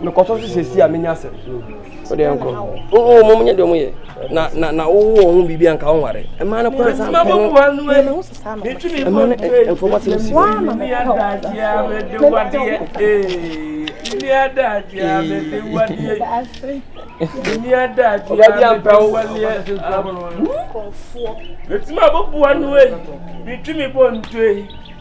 mekɔtɔ so sɛsi a menya asɛm wode ɛnkɔ oo mom nyɛ deɛ ɔmo yɛ na na na wowɔ wɔn ho biribi anka wo nware ɛma no kora sɛ ɛma no mfɔma sɛ msi ɔba bi ampɛ wo ɛtumi abɔboa no ei metumi bɔ ntoe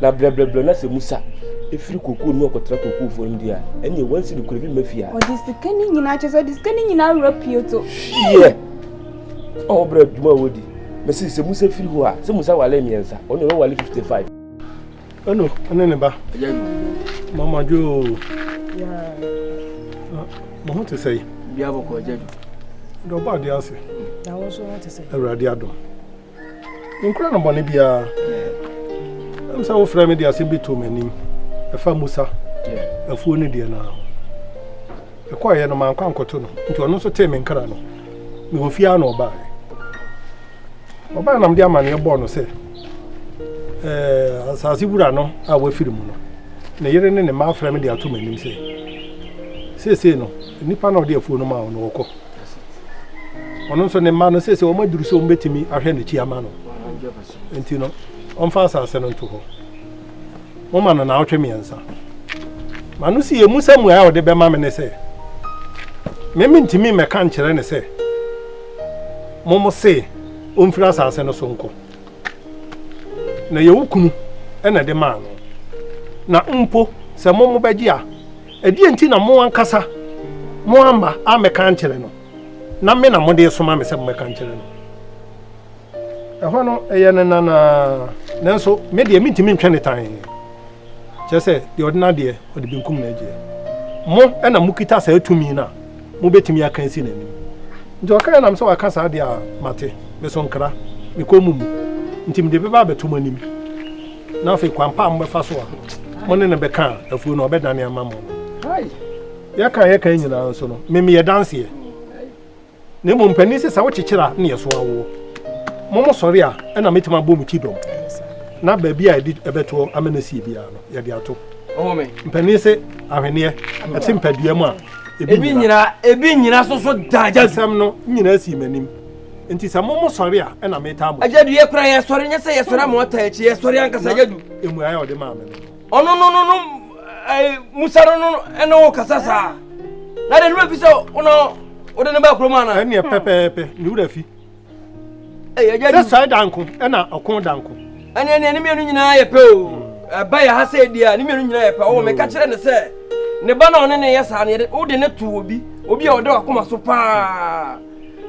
Na brɛbrɛbrɛ na sɛ Musa firi kookoo no mu kɔtra kookoofoɔ no mu deɛ a, ɛnneɛ wɔnsi no kuro bi mma fie a. Ɔde sika no nyinaa kyɛ sɛ ɔde sika no nyinaa wura pioto. Hyeɛ! Ɔwɔ brɛ adwuma a wɔdi. Mɛsi sɛ Musa firi hɔ a, sɛ Musa wale mmiɛnsa, ɔno yɛ wɔwale 55. Ɛno, ɛne ne ba. Mama dwo. Mo ho te sɛ yi. Bia bɔkɔ agya dwo. Dɔba ade ase. Awurade adom. Menkura no bɔne biara. Ɛm sɛ wofrɛ me de asɛm bi too m'anim. Ɛfa Musa afuo no deɛ no ara ho. Ɛkɔeɛ no mankɔ ankɔto no, nti ɔno nso tee me nkra no. Mewɔ fie ara na ɔbaeɛ. Ɔbaeɛ na mede amanneɛ bɔɔ no sɛ eh, asase wura no a wafiri mu no, ne yere ne ne mma afrɛ me de ato m'anim sɛ seesei no nnipa na ɔde afuo no maa wo no wɔkɔ. ɔno nso ne mma no sese wɔn aduru sɛ wɔbɛtumi ahwɛ n'akyi ama no nti no ɔmfa asase no nto hɔ moma no naawɔtwe mmiɛnsa ma no si ɛmu sɛ mmuae a ɔde bɛma me ne sɛ meme ntumi mmɛka nkyerɛ ne sɛ momo se ɔmfiri asase no so nkɔ na yɛwo kunu ɛna de maa no na mpo sɛ momo bɛgye a Ɛdeɛn nti na mo ankasa moamma ammɛka ankyerɛ no, na me na mode resoma me sɛ mommɛka nkyerɛ no? Ɛhɔ no, ɛyɛ ne nan ara, nanso me deɛ mentumi ntwɛn ne tan. Kyerɛ sɛ, deɛ ɔde n'adeɛ, ɔde benkum na agyeɛ. Mo na mokita saa tumi no a mobɛtumi aka asi n'anim. Nti ɔkaeɛ nam sɛ waka saa deɛ a mate, me so nkra, mekɔn mo mu, nti mede bɛba abɛto mo anim. Na afei kwan pa a mobɛfa so a mo ne no bɛka afuo no ɔbɛdane ama mo no, yɛka a yɛka nyinaa nso no, memeyɛ danseɛ. Na mmom mpanin sɛ sɛ wokyekyere a ne ɛso awoɔ. Mo mo sɔre a ɛna mɛtumi abɔ mo ti dɔm. Na baabi a yɛde ɛbɛtoɔ ama no asie biara no, yɛde ato. Mpanin sɛ ahweneɛ ɛte mpadua mu a ebi nyina. Ebi nyina so so daa gya. Asɛm no nyinaa sii m'anim. Nti sɛ mo mo sɔre a ɛna metaa mo. Agyadu yɛ kora yɛ sɔre nyɛ sɛ yɛ sɔre ama ɔtaa akyi yɛ sɔre ankasa agyadu. Emuaeɛ a ɔde maa me no. Ɔno no no no musa no no ɛna wɔ kasa saa. Na de nura fi sɛ ɔna ɔde ne ba kurom ana. Ɛneɛ pɛpɛɛpɛ ne wura fi. Ɛyɛ agyadu. Sɛ sɔre danko ɛna ɔko danko. Ɛneɛ neɛ ne mmienu nyinaa yɛ pɛ o. Ɛba yɛ ha sɛ ɛdi a ne mmienu nyinaa yɛ pɛ. Ɔwɔ meka kyerɛ ne sɛ ne ba na ɔne ne yɛ saa no yɛde wode ne to obi obi a ɔde wakoma so paa.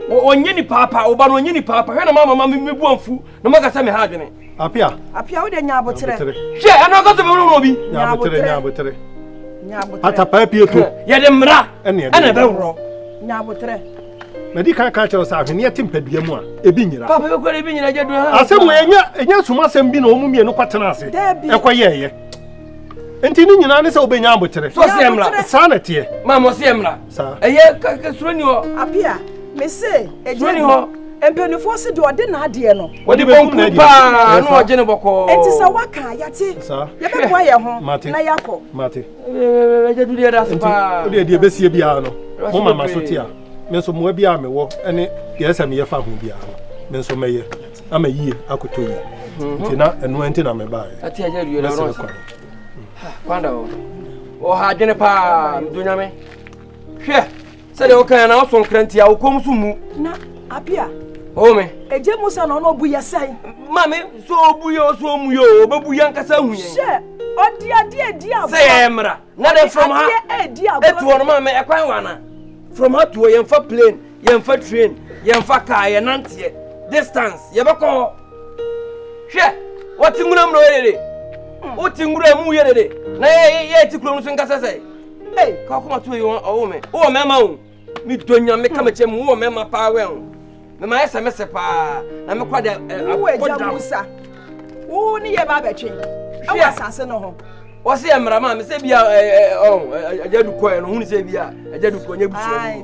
ɔnyɛ ni paapa ɔba no ɔnyɛ ni paapa hwɛ na mama ma me bu amfu na maka sɛ me ha adwene apia apia wode nya aboterɛ hwɛ ɛno kɔ sɛ bɛwura wɔ bi nya aboterɛ nya aboterɛ nya aboterɛ atapaa pie to yɛde mmara ɛne ɛbɛworɔ nya aboterɛ madi kan ka kyerɛ sɛ ahweneɛ te mpadua mu a ebi nyira papa bɛkɔ ebi nyira gya dua asɛm wɔ ɛnyɛ ɛnyɛ soma asɛm bi na wɔn mmienu kɔ tena ase ɛkɔ yɛ ɛyɛ nti ne nyinaa ne sɛ wobɛnya aboterɛ saa na ɛteɛ maa mo se mmra Sa. Ɛyɛ ka ka suro ni hɔ. Apia, me se ɛgye Suro ni hɔ. bi. Mpanimfoɔ se deɛ ɔde n'adeɛ no. Wɔde bɛkum Bonku n'adeɛ. paa Ɛyɛ na saa. ɔgye ne bɔkɔɔ. Enti sɛ waka a, yɛate. Sa. Yɛbɛboa yɛn ho Mate. na yɛakɔ. Mate. Ɛgya du deɛ da se Nti paa. wodeɛ deɛ ɛbɛsie biara no Ɛwɔ so moma ma so bebree. te a me nso mmoa biara a mewɔ ne deɛ ɛsɛ sɛ meyɛ fa ho biara no me nso mɛyɛ ama yie akotɔ yie nti na ɛno nti na mebaeɛ Ate agya du deɛ da mɛsere ɔrɔn kwan Kwanda o, wɔ ha adwene paa, mdo nyame. Hwɛ, sɛdeɛ woka yɛ na woso nkra nti a wokɔm so mu. Na apia. O me. Ɛgye Musa na ɔno ɔbu yɛ sɛn? Maame, so ɔbu yɛ ɔso ɔmu yɛ o, ɔbɛbu yɛ ankasa hu yɛn. Hyɛ, ɔde adeɛ adi agorɔ. Sɛ yɛyɛ mmara, na dɛ from ha ɛtuo no maame ɛkwan wɔ ana? From ha tuo yɛmfa plane. Yɛnfa train, yɛnfa car, yɛnanteɛ. Distance, yɛbɛkɔ hɔ. Hwɛ, wɔte nwura mu na ɔyɛ dede. Wote nwura mu yɛ dede. Na yɛ yɛ ti kurom nso nkasa sɛ. Ei, ka ɔkoma to yi ɔwɔ me. Wowɔ mɛma o. Me dɔ nyame ka mekyɛ mu wowɔ mɛma paa wɛn o. Mɛma yɛ sɛ mɛsɛ paa. Na mekɔ de akɔdam. Wo Musa. Wo ne yɛ ba bɛtwe. Ɛwɔ asase no ho. Wɔsi yɛ mmara maa me sɛ bia ɛɛ ɔn ɛgya dukɔ yɛ no ho ne sɛ bia ɛgya dukɔ nyɛ busua bi.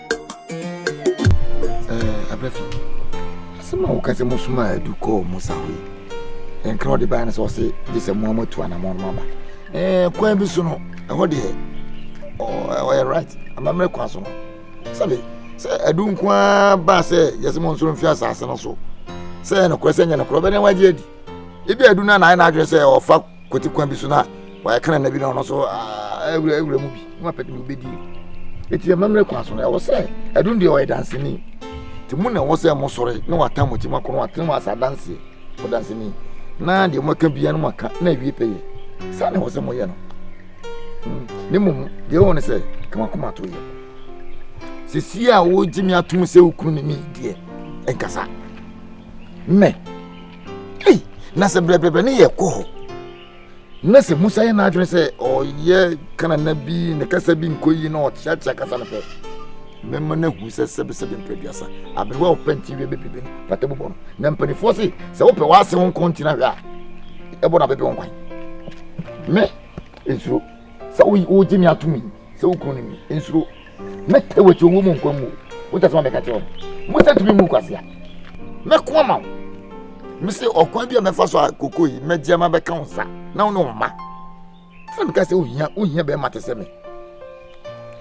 abrɛfi asɛm a woka sɛ mosoma adu kɔɔ mo sa hɔ yi ɛnkra ɔde baa no sɛ ɔse gye sɛ moa moatu anammɔn no aba kwan bi so no ɛhɔ deɛ ɔyɛ right amammerɛ kwan so no sɛbe sɛ adu nko ara baa sɛ yɛsɛ mo nsoro mfi asase no so sɛ ɛyɛ nokorɛ sɛ nyɛ nokorɛ ɔbɛdɛn wagye adi ebi adu no a na ayɛ no adwene sɛ ɔfa Kwati kwan bi so na wɔayɛ kan na bi na ɔno nso awura awura mu bi na wapɛ de obedi eti amammerɛ kwan so no ɛwɔ sɛ ɛdun deɛ ɔyɛ danseni te mu na ɛwɔ sɛ mo sɔre na watan mo akyi mo akɔnɔ atene mo asa danseɛ mo danseni na deɛ mo aka bia no mo aka na awie pɛ yɛ saa na ɛwɔ sɛ mo yɛ no hmm. ne mmom deɛ ɛwɔ ne sɛ kama kɔma to yɛ sisi a wogye me atom sɛ wokunu ne me deɛ nkasa mɛ ei na sɛ brɛbrɛbrɛ ne yɛ kɔ hɔ na sɛ musa yɛ n'adwene sɛ ɔyɛ kanana bi ne kasa bi nkɔ yi na ɔkyeakyea kasa no pɛ mɛma no ahu sɛ sɛbesɛbe mprɛduasa aberewa a ɔpɛ nti wie bɛbibi no pata bobɔ no na mpanimfoɔ se sɛ wopɛ w'ase ho nkɔ nti no ahwɛ a ɛbɔ no abɛbi wo nkwan me nsuro sɛ wogye me atom yi sɛ wokunu no mi nsuro Mɛtɛ w'akyi ɔwɔ mu nkwa mu o. Wogya sɛ ma mɛka kyerɛ wɔn. Musa tumi mu kwasea. Mɛko ama wo. Mese ɔkwan bi a mɛfa so a koko yi mɛgye ama bɛka wo nsa na wo ne wo mma. Ɛna meka sɛ wohia wohia bɛrima te sɛ me.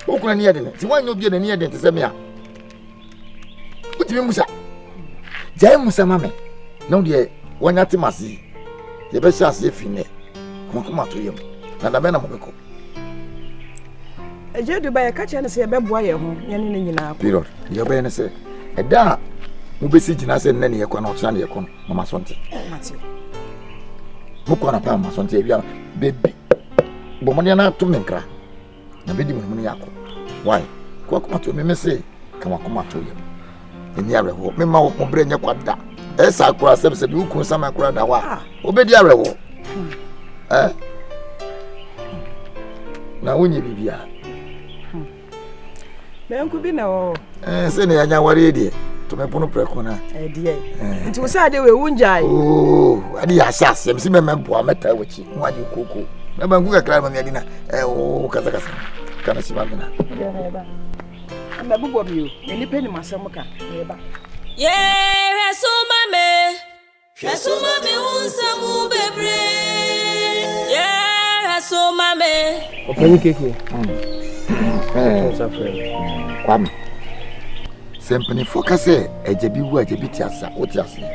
Wo kunu ani yɛ den. Sɛ woanyɛ obi a n'ani yɛ den te sɛ me a wotumi musa. Gyae musa ma me na wo deɛ wɔanya te m'ase yi yɛbɛhyɛ aseɛ fi nnɛ. Kɔnkɔma to yam. Na dabɛn na mobɛkɔ. Agya du ba yɛka kyerɛ no sɛ yɛbɛboa yɛn ho yɛne no nyinaa period deɛ ɔbɛyɛ no sɛ ɛda a mobɛsi gyina sɛ nnɛ ne yɛkɔ na ɔkyena ne yɛkɔ no mama so nte mokɔ anapa mama so nte awia no bɛbi bɔ mmɔden no ato me nkra na bɛdi mu no mu no yɛakɔ wae kɔakoma to me me se ka wakoma to yɛ ɛni awerɛhoɔ mema wo moberɛ nyɛ kwa da ɛyɛ saa koraa sɛ sɛ bi wo kunu sama koraa da hɔ a ah. wobɛdi awerɛhoɔ hmm. eh? na wonyɛ biribiaa hmm. bɛnko bi na wɔ eh, sɛ ne yɛanya wareɛ deɛ tumi pono prɛko no eh, eh. nti wo sɛ ade wei wongyae oh, ade yɛ ahyɛ aseɛ msi mɛmɛ mpoa mɛtaa wakyi ho agye koko mɛbanku kakra ma meadi na wokasakasa kana si ma mena Yeah, hwɛ so ma me, hwɛ so ma me wo nsɛm bebree. Yeah, hwɛ so ma me. Ọ̀pẹ̀ni kékeré. Kwame, sɛ mpanimfoɔ ka sɛ agya bi wu agya bi te ase a, wote aseɛ.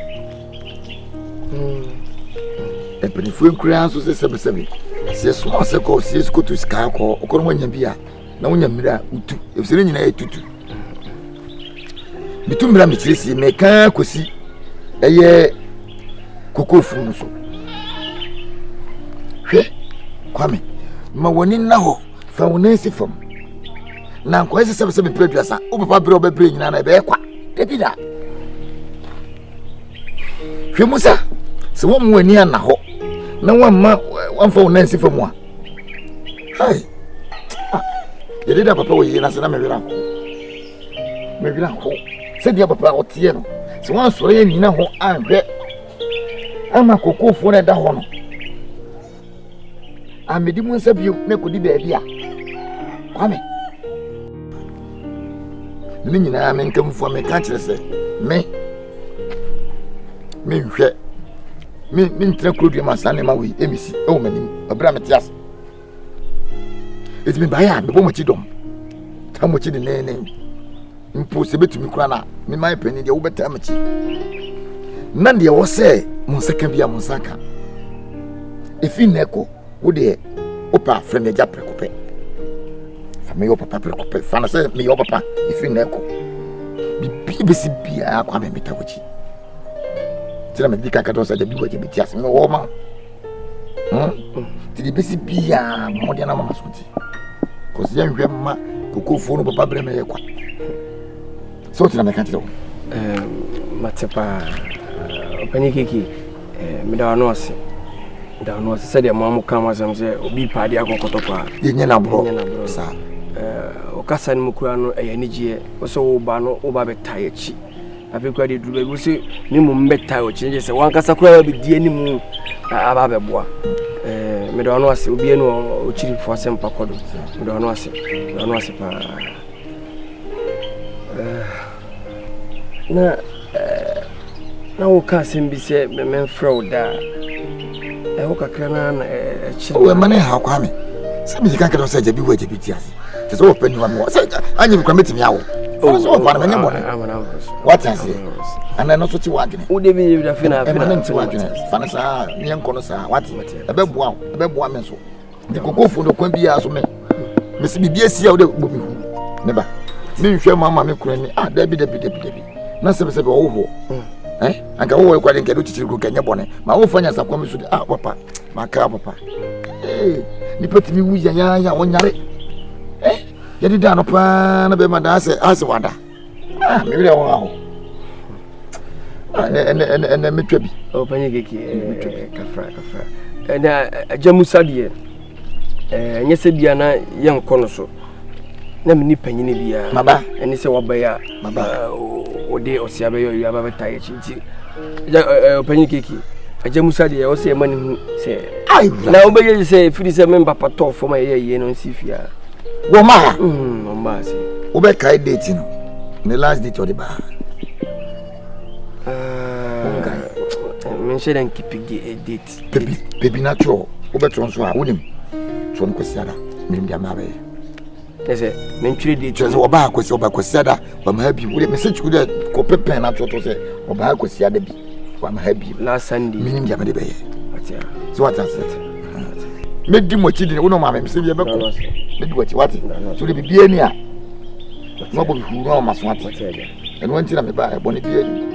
Mpanimfoɔ nkuraa nso sɛ sɛbesɛbe. Sɛ ɛsoma sɛ kɔ sie so kɔtu sika kɔ, wokɔ no woanya bi a, na wonya mmerɛ a wotu ɛfisɛ ne nyinaa yɛ tutu metu mmerɛ a mekyerɛsie mekaa kɔsi ɛyɛ kokofu no so hwɛ kwame ma w'ani nna hɔ fa wo nan si fam na nkɔyɛ sɛ sɛbɛsɛ mepɛ aduasa wo papa berɛ wobɛbrɛ nyinaa na ɛbɛyɛ kwa da bi da hwɛ mu sa sɛ woammu w'ani anna hɔ na woamma woamfa wo nan si fam a Hey! Ah, yɛde da papa wɔ yie na sɛ na mewera ho. Mewera ho. Sɛdeɛ papa ɔteɛ no, sɛ wɔansɔre yɛ nyina ho anhwɛ ama kokofoɔ no ɛda hɔ no, amedi mu nsa bio na ɛkɔdi baabi a kwame. Ne nyinaa me nkamfoɔ meka kyerɛ sɛ me menhwɛ mentena kuro dua ma saa nneɛma wei ɛmɛsi ɛwɔ m'anim ɛberɛ a mete ase ɛti mebaeɛ a mebɔ makyi dɔm taa makyi denenen mpo sɛ bɛtumi kora no a mema ɛpani deɛ wobɛtaa makyi na deɛ wɔ sɛ mo nsa ka bi a mo nsa ka ɛfiri nnɛ kɔ wo deɛ wopɛ a frɛ me agya prɛko pɛ fa meyɛ papa prɛko pɛ fa no sɛ meyɛ papa ɛfiri nnɛ kɔ biribi bɛsi biara kɔ a memeta wakyi nti na medi ka ka dɔ sɛ agya bi wɔ agya bɛti ase mewɔ ma wo Tiri bɛsi biaa mɔden na mama so ti kɔsi yɛn hwɛ mma kokofoɔ no papa brɛ mɛ yɛ kwa sɛ o tena mɛka kyerɛ wo mate paa ɔpɛne keke meda ano ase da ano ase sɛdeɛ moa mo ka mo asɛm sɛ obi paa de akɔkɔtɔ paa yɛnyɛ no aborɔ saa ɔkasa no mu kura no ɛyɛ anigyeɛ wo sɛ woba no woba bɛta yɛkyi afei koraa deɛ duru baabi wo sɛ ne mmom bɛtae ɔkyerɛ kyɛ sɛ wankasa koraa wabɛdi anim aba abɛboa mede ɔno ase obiara ne ɔkyirifo asɛmpa kɔ do mede ɔno ase mede ɔno ase paa na na woka asɛm bi sɛ memfrɛ wo daa Ɛho kakra no ara na ɛkyɛ. O ɛma ne haw kwa me. Sɛ meyɛ kankan no sɛ agya bi wɔ agya bi ti ase. Kyerɛ sɛ wɔpɛ niwa me wɔ. Sɛ anyɛ me kora mɛtumi awo. Sɛ sɛ wɔpɛ no mɛnyɛ bɔne. Wate aseɛ. Ana ɛno so te w'adwene. Wode bi yɛ wura fina. Ɛma ne nte w'adwene. Fa no saa ne yɛnkɔ no saa. Wate. Ɛbɛboa wo. Ɛbɛboa me nso. de koko fo no kwan biara so me mesi biribi asi a wode bɔ me hu ne ba menhwɛ ma ma me kora ni ah dabi dabi dabi dabi na sɛbɛsɛbɛ ɔwohoɔ mm. eh? anka wohɔ kwade nkɛde kyikyiri kuro kɛnyɛ bɔne ma wofa nya sakoa me so de ah papa makra papa eh, nipa tumi wu yɛyɛyɛ a wɔnyare eh? yɛde da no paa na bɛma daa sɛ asɛ wada ah me werɛ ho aho ɛnɛ mɛtwa bi ɔpɛnyɛ keke kafra kafra ɛnɛ agya musa deɛ ɛnyɛ sɛ bia na yɛnkɔ no so na mene panyini biaa maba ɛne sɛ wabɛyɛ a maba ɔde ɔsea bɛyɛ ɔyɛ aba bɛta yɛkyi nti ɔpɛnyɛ keke agya musa deɛ ɛwɔ sɛ ɛma ne hu sɛ na wobɛyɛ sɛ ɛfiri sɛ memba patɔɔ fam a ɛyɛ yie no nsi fie a wɔn ma ha wobɛkae date no ne last date ɔde baa menhyɛ dɛ nkepi date pepi pepi na twerɛ wobɛtwerɛ nso a wonim twerɛ no kwasiada menim deɛ maabɛyɛ kyɛ sɛ mentwerɛ date kyɛ sɛ wɔbaa kwasi wɔbaa kwasiada wama ha bi wode mese kyerɛ dɛ kɔpɛ pɛn no atoto sɛ ɔba ha kwasia da bi wama ha bi menim deɛ mede bɛyɛ sɛ wate ase mɛdi mo akyi dene wo no maame mesɛ deɛ bɛkɔ mɛdi wakyi wate so de biribiaa ni a na wabɔ mehuru no ama so ate ɛno nti na meba ɛbɔne biaa ni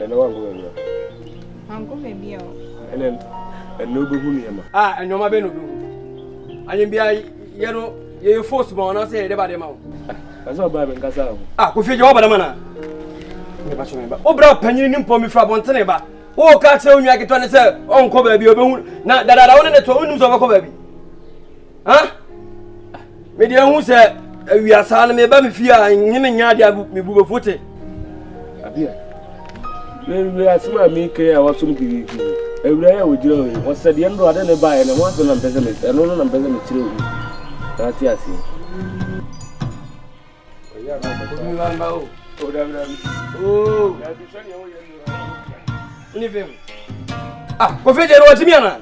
Ɛnna wanko baabi a. Wanko baabi a o. Ɛnna ɛnna obehu nneɛma. A nneɛma bɛn na obehu? Ayɛnbea yɛ no yɛyɛ force ma wɔn anaasɛ yɛde ba de ma wɔn? Ɛsɛ ɔbaa mi nkasa ho. A kofi gye wɔbɛdama na. Ne ba kyerɛ ba. Obra panyin ne mpɔ mi fura bɔntene ba. Wo ka kyerɛ onua ketewa ne sɛ ɔnkɔ baabi obehu na dadaada wo ne ne to onim sɛ ɔbɛkɔ baabi. ah me deɛ hu sɛ awia saa no meba me fie a nye me nya adeɛ a mebu bɛfo te adeɛ wei asɛm a mekɛ a wasom gidigidi awura yɛ a wɔgyina hɔ yi wɔsɛ deɛ no ade ne baeɛ no ho asɛm na mpɛ sɛ me ɛno no na mpɛ sɛ mekyerɛ wo na ate aseɛ Ah, confia de novo, Adriana.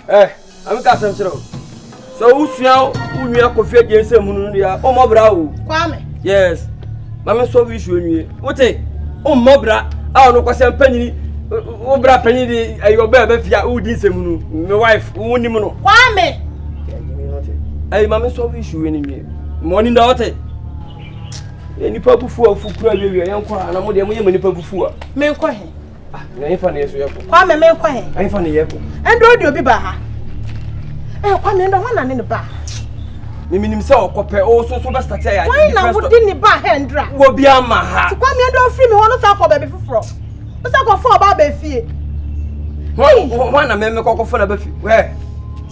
ɛ eh, ma me ka asɛm kyerɛ wo sɛ wosua wo nua kɔfi agye nsɛm mu no deɛ wommɔ bra o kwame yes ma me sɔ wisu nwie wote wommɔ bra a ɔno kɔsɛ mpanyini wo bra panyin de ɛyɛ ɔbɛ ɛbɛ fia wodi nsɛm mu no me wife wonim no kwame ɛyi ma me sɔ wisu nwie ma ɔnim da wote nipa bufu a ɔfu kura wiawia yɛnkɔ a na mo deɛ moyɛ ma nipa bufu a menkɔ he Na ɛfa ne yɛso yɛkɔ. Kwa mɛmɛ kɔ he. Ɛfa ne yɛkɔ. Ɛndɛ odi obi ba ha. Ɛ kwa mɛ ɛndɛ wana ne ne ba. Mimi nim sɛ ɔkɔ pɛ o so so bɛsta kyɛ yɛ. Wɔn na wo di ne ba ha ɛndra. Wɔ bi ama ha. Kwa mɛ ɛndɛ ofiri mi hɔ no sa kɔ baabi foforɔ. Ɔsa kɔ fɔ ɔba abɛ fie. Wɔn na mɛmɛ kɔkɔ fɔ na bɛ fi. Wɛ.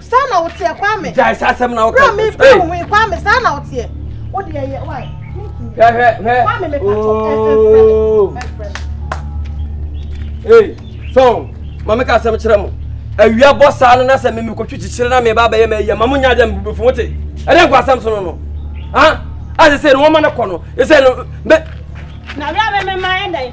saa na woteɛ kwame gyae saa asɛm na woka me bɛ wo ho kwame saa na woteɛ wo deɛ yɛ wae hwɛ hwɛ hwɛ kwame me pato ee sɔn maame ka asɛm kyerɛ mo awia bɔ saa no na sɛ meme kɔtwe kyikyere na meba bɛyɛ ma ayia ma mo nya dɛ mebɛfo wote ɛdɛ nkɔ asɛm so no no a asɛ sɛ no wɔma no kɔ no ɛsɛ no na wia bɛmɛma ɛdɛn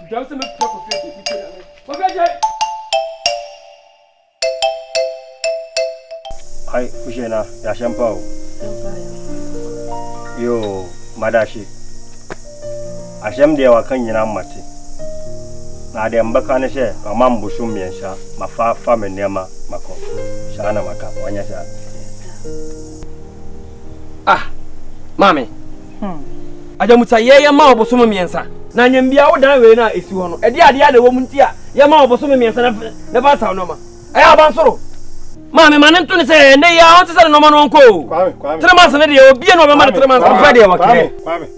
Dwam sɛ mɛfrɛ Kofi ase mete Nyame Kofi agyae. Ai wohyɛ na yɛahyɛ mpa o yoo madahye ahyɛm deɛ waka nyinaa mate na adeɛ mbɛka ne sɛ mama mbosom mmiɛnsa mafa fa me nneɛma makɔ saa na maka wanyɛ saa ah maame Agyamutsa yɛ yɛ maa ɔbosom mmiɛnsa. Na anyɛn bia wo dan wei no a esi hɔ no ɛdeɛ adeɛ na ɛwɔ mu nti a yɛ maa ɔbosom mmiɛnsa na fɛ na fa nsaw nnoɔma ɛyɛ abansoro. Maame ma ne nto ne sɛ ɛnɛ yi ara ɔnte sɛ ne nnoɔma no ɔnkɔ o three months no deɛ obie na ɔbɛma no three months no fɛ deɛ wɔkɛɛ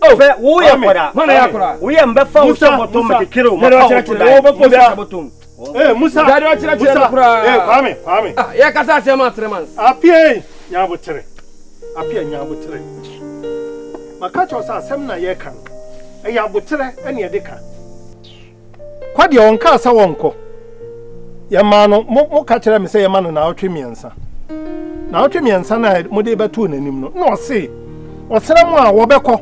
o fɛ wo yɛ akɔdaa wo yɛ mbɛfa wo hyɛ bɔtɔm mɛkekere wo mɛfa wo to dan wo hyɛ bɔtɔm. Ee, Musa! Dade ɔkyerɛkyerɛ no koraa. Ee, Kwame, Kwame. Ah, yɛkasa asɛm ma Tremans. Apia ei, Nyabotere. Apia Nyabotere. Maka kyerɛ sɛ asɛm na yɛka no. Ɛyɛ aboterɛ ɛne ɛde ka. Kɔ deɛ ɔnkaa sɛ wɔnkɔ. Yɛmaa no, mo, mo ka kyerɛ me sɛ yɛma no naawɔtwe mmiɛnsa. Naawɔtwe mmiɛnsa no a mode bɛtoo n'anim no, na ɔse, ɔsrɛ mo a wɔbɛkɔ.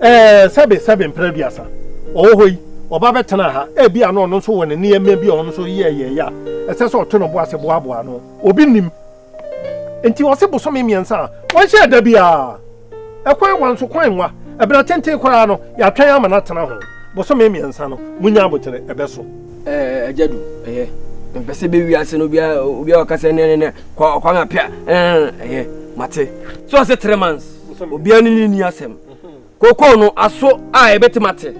Ɛɛ, sɛbe, sɛbe mpɛn aduasa ɔwɔ hɔ yi, ɔba bɛtenaa ha. Ebia na ɔno nso wɔ ne nneɛma bi a ɔno nso yɛɛ yɛeɛ a ɛsɛ sɛ ɔto ne bo ase boaboa ano. Obi nnim. Enti ɔse bosome mmiɛnsa a wɔnhyɛɛ da biara. Ɛkwan wa nso, kwan nwa. Ɛberɛ tenten koraa no, yɛatwɛn ama no atena ho. Bosome mmiɛnsa no, monya abotere, ɛbɛso. Ɛɛ, Agya Du, ɛyɛ. Mepɛ sɛ bɛwie ase no, obiara, obiara ɔka sɛ, nɛ, nɛ, nɛ, kɔ, ɔkwan apɛ a, ɛɛ, ɛyɛ. Mate. So ɔse three months? obiara ne ne nni asɛm kookoo no aso a ɛbɛtim ate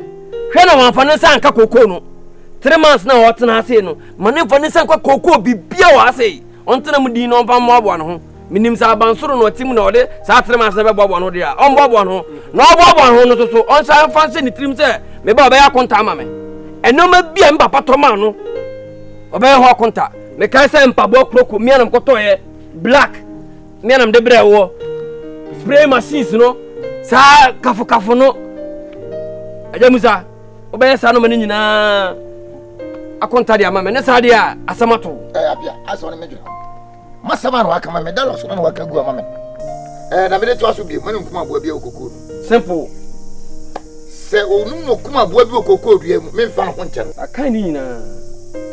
hwɛ na wɔamfa ne nsa anka kookoo no three months na ɔtena ase no ma ne mfa ne nsa nka kookoo bibia wɔ ase yi ɔntena mu din na ɔmfa mmoaboa ne ho menim sɛ abansoro na ɔte mu na ɔde saa three months na bɛboaboa ne ho deɛ a ɔmboaboa ne ho na ɔboaboa ne ho no soso ɔnsa mfa nhyɛ ne tirim sɛ meba ɔbɛyɛ akonta ama me ɛnneɛma bi a me papa tɔ maa no ɔbɛyɛ ho akonta mekae sɛ mpaboa kuroko mmea na mekɔtɔeɛ black Nuanom de brɛ wɔ spray machines no saa kafokafo no agya mu sa wobɛyɛ saa noma no nyinaa akɔnta de ama me ne saa deɛ a asɛm ato masɛm a na waka ma me dala so na waka gu ama me na mede toa so bio mane nkum aboa bi wɔ kokoo no simple sɛ ɔnum no kum aboa bi wɔ kokoo dua mu memfa no ho nkyɛ no akan ne nyinaa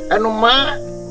ɛnomaa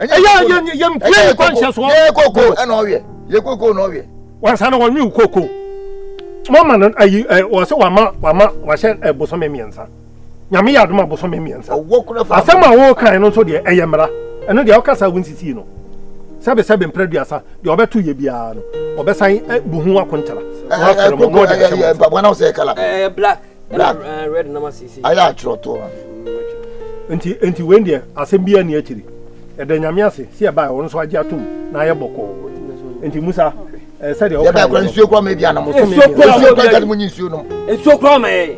yɛmpie kwanhyɛ soɔ yɛ koko ɛna ɔweɛ yɛ koko na ɔweɛ wansa na wɔnwe wo koko mama no ayi wɔ sɛ wama wama wahyɛ ɛbosome mmiɛnsa nyame yɛ adoma bosome mmiɛnsa asɛm a wɔkan no nso deɛ ɛyɛ mmara ɛno deɛ ɔkasa wo nsisii no sɛbe sɛbe mprɛ duasa deɛ ɔbɛto yɛ biara no ɔbɛsan bu ho akontara mpaboa na wosɛ kala black black eh, red na ma sisi ayɛ atwerɛ to ha mm, nti nti wei deɛ asɛm biara ni akyiri ɛda nyame ase sɛ ɛbaɛ ɔno nso agye atom na ayɛ bɔkɔɔ nti musa eh, sɛdeɛ yɛbɛɛ kora nsuo kora ma bi anam so me nsuo kora ma nyi nsuo nom nsuo kora ma yɛ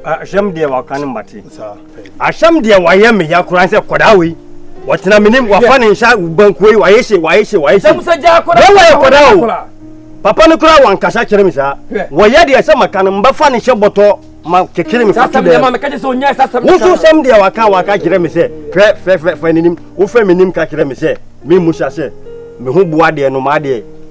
ahyɛm deɛ waka ne mmate saa Ahyɛm deɛ wayɛ me ya koraa sɛ kɔdaa wei wɔtena menim wafa ne nsa bankuo yi wayɛ hye wayɛ hye wayɛ hye bɛwɔ yɛ kɔdaa o papa no koraa wankasa kyerɛ me saa wɔyɛ deɛ sɛ maka no mbɛfa ne hyɛ bɔtɔ ma kekere me fato dɛ woso sɛm deɛ waka waka kyerɛ me sɛ fɛ fɛ fɛ fɛ n'anim wofɛ m'anim ka kyerɛ me sɛ memmu sa sɛ me ho boa deɛ no maa deɛ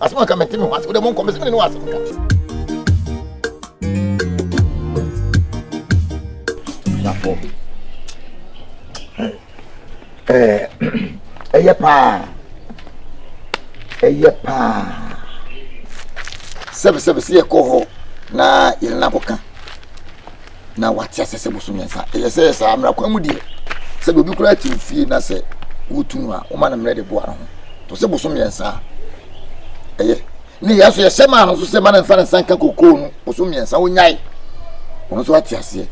asɛm a nka mente me ho ase wode monkɔ me sɛ mene ne wɔ asɛm ka abusuafoɔ ɛyɛ paa ɛyɛ paa sɛbesɛbe sɛ yɛkɔ hɔ na yɛne no akɔka na wate ase sɛ boso mmiɛnsa ɛyɛ sɛ saa mmara kwan mu deɛ sɛdeɛ obi koraa te ofie na sɛ wotu no a woma no mmerɛ de boa no ho to sɛ boso mmiɛnsa ɛyɛ ne yɛ so yɛhyɛ maa no nso sɛ ma no mfa ne nsa nka kokoo no boso mmiɛnsa wonyae ɔno nso ate aseɛ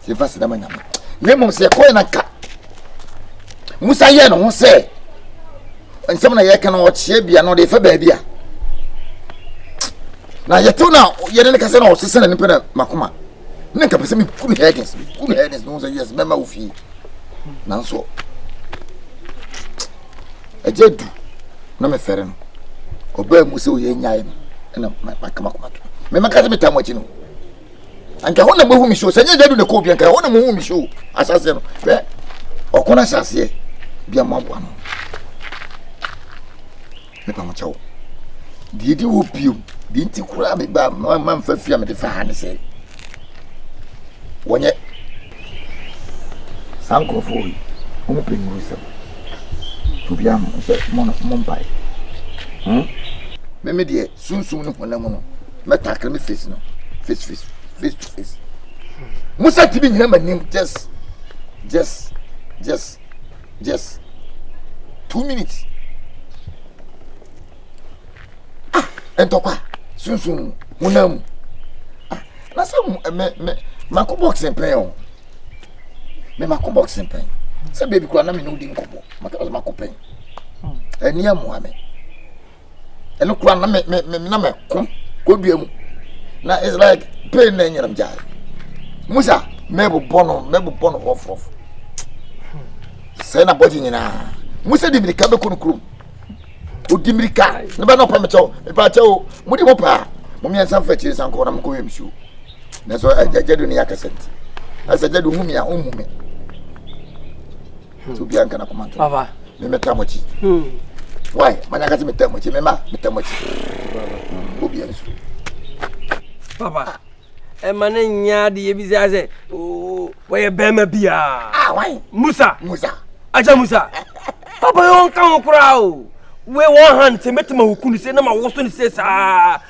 sɛ mfa sɛ dama nyame na mmom sɛ yɛkɔɛ na nka musa yɛ ne ho sɛ nsɛm na yɛka no ɔkyeɛ bia no ɔde fa baabi a na yɛtew na yɛne no kasa na ɔsesa n'ani pɛ dɛ makoma na nka pɛ sɛ meku no herdens meku no herdens na ɔhu sɛ yes mɛma wo fie nanso ɛgya du na mefɛre no ɔbaa mu sɛ ɔyɛ nyae no ɛna maka makoma to memɛka sɛ metaa mo akyi no anka hɔ na mohu me so sɛ nyɛ gya du na kɔɔ bia nka hɔ na mohu me so asaseɛ no hwɛ ɔko no asaseɛ bia moaboa no Mepamokyɛ wo, deɛ ɛdi hɔ bio, deɛ nti koraa meba mamfa fie a mede fa ha ne sɛ, wɔnyɛ saa nkurɔfoɔ yi, wɔn pɛ nnuru sɛm. Obiara mo sɛ mo no mo mpae. Hmm? Meme deɛ sunsum ne honam no mɛtakere me face no face face face to face. Musa tumi nyina m'anim just just just Just two minutes. Ah, ɛntɔkwa sunsun honam mu. Ah, na sɛ mo eh, mɛ mɛ mako box mpɛn o. Mɛ mako box mpɛn. Sɛ beebi kura na mi na odi nkɔmɔ. Maka sɛ mako pɛn. Ɛni amoa mi. ɛno kora na me me me na me ko kodua mu na it's like pain na ɛnyɛnam gyae musa mɛbobɔ no mɛbobɔ no rɔfrɔfo sɛ na bɔgye nyinaa musa di mirika bɛkɔ no kurom odi mirika ne bɛ na ɔpɛ me kyɛw mepɛ akyɛw mode mo paa mo mmiɛnsa mfa akyiri nsa nkɔ na mokɔyɛ msuo nanso agyadu ne akɛsɛ nti ɛsɛ agyadu hu me a ɔmmu me nti obi anka na kɔma ntoma papa me me tam akyi why manya ka sɛ me tam akyi me ma me tam akyi obi ansu papa ɛma ne nya de yɛ bi sɛ sɛ wɔyɛ bɛrima biaa ah, why musa musa agya musa papa yɛ ɔnka ho koraa o wei wɔn ha no sɛ mɛtumi awokunu sɛ na mawoso no sɛ saa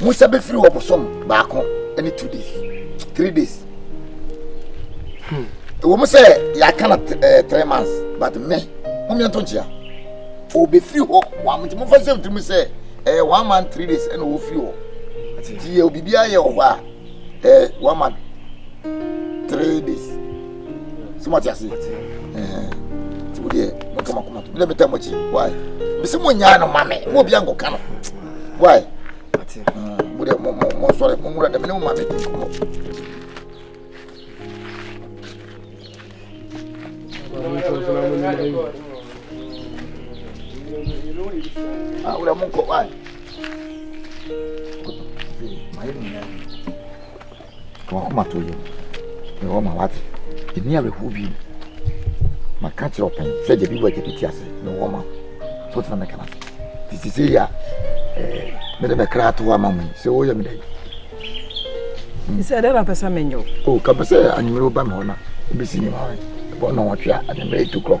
mo nsa bɛfiri hɔ bosom baako ne two days three days ɛwɔ hmm. mu sɛ yɛaka na eh, three months but me momeɛ nto nkyea ɔbɛfiri hɔ wamnti mofa sɛ mtiri mu sɛ ɛyɛ eh, one month three days ɛna ɔfiri hɔ nti yɛ obibiaa yɛ wɔ hɔ a eh, one month three days sɛ moate ase nti wodeɛ mɛka makoma to mene metɛ mɔkyi wae mese monyaa no ma me ma obia nkɔka no wae modeɛ monsɔre monwura dɛ mene mo ma me nkɔmmɔ Ah, wura monkɔ wae mayɛ no nyinaa To w'akoma to yam, na ɔma w'ate. Nni awerɛhow bio. Maka kyerɛ ɔpɛn sɛ agya bi wɔ agya bi te ase, na ɔwɔ ma wo. So tena mɛka no ase. Nti sisi yi a, eh, mede me kra ato ama mo yi, sɛ woyɛ me dɛn? Hmm. Sɛ dɛn na pɛ sɛ menyɛ wo? O, oh, ka pɛ sɛ anwummerɛ woba me hɔ na wobɛsi ne ma me. Ɛbɔ nnɔnwɔtwe a, anwummerɛ 8 o'clock.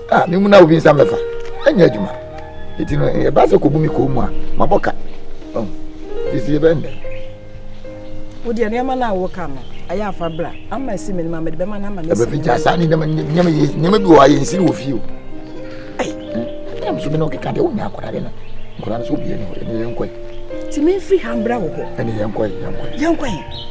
a me mu na obi nsa mɛfa ɛnyɛ adwuma ɛti no ɛba sɛ kɔbu me kɔɔ mu a mabɔ ka ɛsi ɛbɛ nnɛ wodeɛ nneɛma no a woka no ɛyɛ afa bra ama ɛsi me no ma mede bɛma no ama no ɛbɛfi gya saa ne nneɛma bi wɔ ayɛ nsiri wɔ fie o ɛnam so me na ɔkeka deɛ wonya akɔda de no nkɔda no sɛ obiɛ ne hɔ ɛne yɛnkɔe nti memfiri ha mbra wɔ hɔ ɛne yɛnkɔe yɛnkɔe yɛnkɔe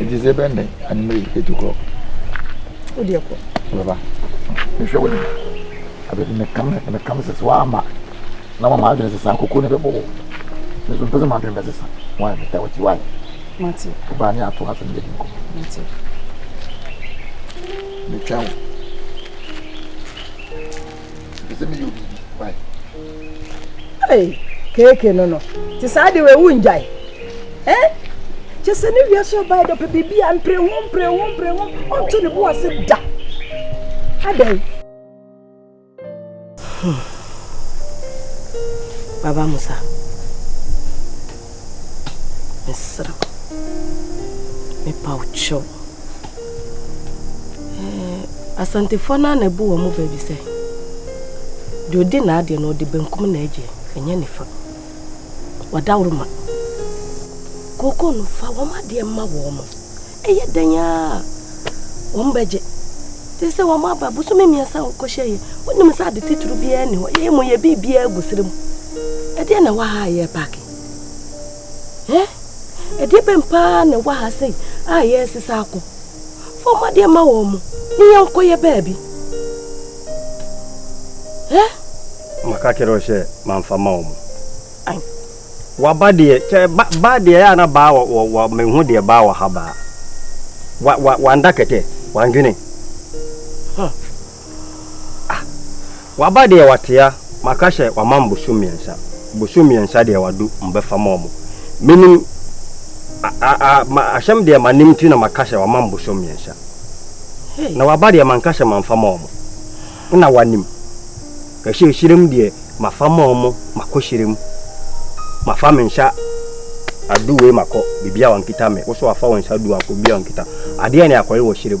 Eti sɛ bɛn dɛ anwumere yi etu kɔ. Wo deɛ kɔ. Bɛba. Mehwɛ wo dɛ. Abɛ de meka me meka me sese wama. Na wama adwene sese ankoko ne bɛbɔ wo. Me so mpɛ sɛ m'adwene bɛ sesa. Why me tɛ wati why. Mate. Wo baa ne ato ase ne yɛdi nkɔmɔ. Mate. Metwɛn wo. Mepɛ sɛ meyɛ obi bi. Why? Hey, keeke no no. Te saa de wei wongyae. Eh? Kyɛ sɛ ne wiase ɔbae dɔpɛ biribi a mpere ho mpere ho mpere ho ɔnto ne bo ase da. Adɛn? Hmm. Baba Musa. Mesrɛ wo, mepa wo kyɛw. Ɛɛ, Asantefoɔ no ara na ɛbu wɔn bɛ bi sɛ, deɛ ɔdi n'adeɛ no ɔde benkum na agye, ɛnyɛ nifa. Wadaworo ma. Kooko no, fa wɔn adeɛ ma wɔn. Ɛyɛ dɛn ara a, wɔbɛgye. Te sɛ wɔn aba bosome mmiɛnsa a wɔkɔhyɛ yɛ, wonim sɛ ade titiriw biara nni hɔ. Yɛyɛ mmom yɛ biribiara gu sere mu. Ɛdeɛ na ɛwɔ ha a yɛ paaki? Ɛ? Ɛdeɛ bɛn paa na ɛwɔ ha sei a yɛresesa akɔ? Fa wɔn adeɛ ma wɔn mo ne yɛnkɔ yɛ baabi. Ɛ? Maka kyerɛ wo sɛ mamfa ma wɔn. Ae. Waba deɛ kyɛ ba ba deɛ yɛ a na baa wɔ wɔ wɔ me hu deɛ baa wɔ ha baa wa wa wanda kɛtɛ wandwene huh ah waba deɛ watea maka hyɛ wama mbosom mmiɛnsa bosom mmiɛnsa deɛ wado mbɛfa ma ɔmo menim a a a ma ahyɛm deɛ manim nti na maka hyɛ wama mbosom mmiɛnsa na waba deɛ manka hyɛ manfa ma ɔmo nna wanim. Kahyirɛhyirɛm deɛ mafa mɔɔ mo makɔ hyirɛm mafa me nsa ado wei makɔ bibia ɔnkita me woso wafa wo nsa ado akɔ bibia ɔnkita adeɛ ne akɔye wɔ hyirɛm.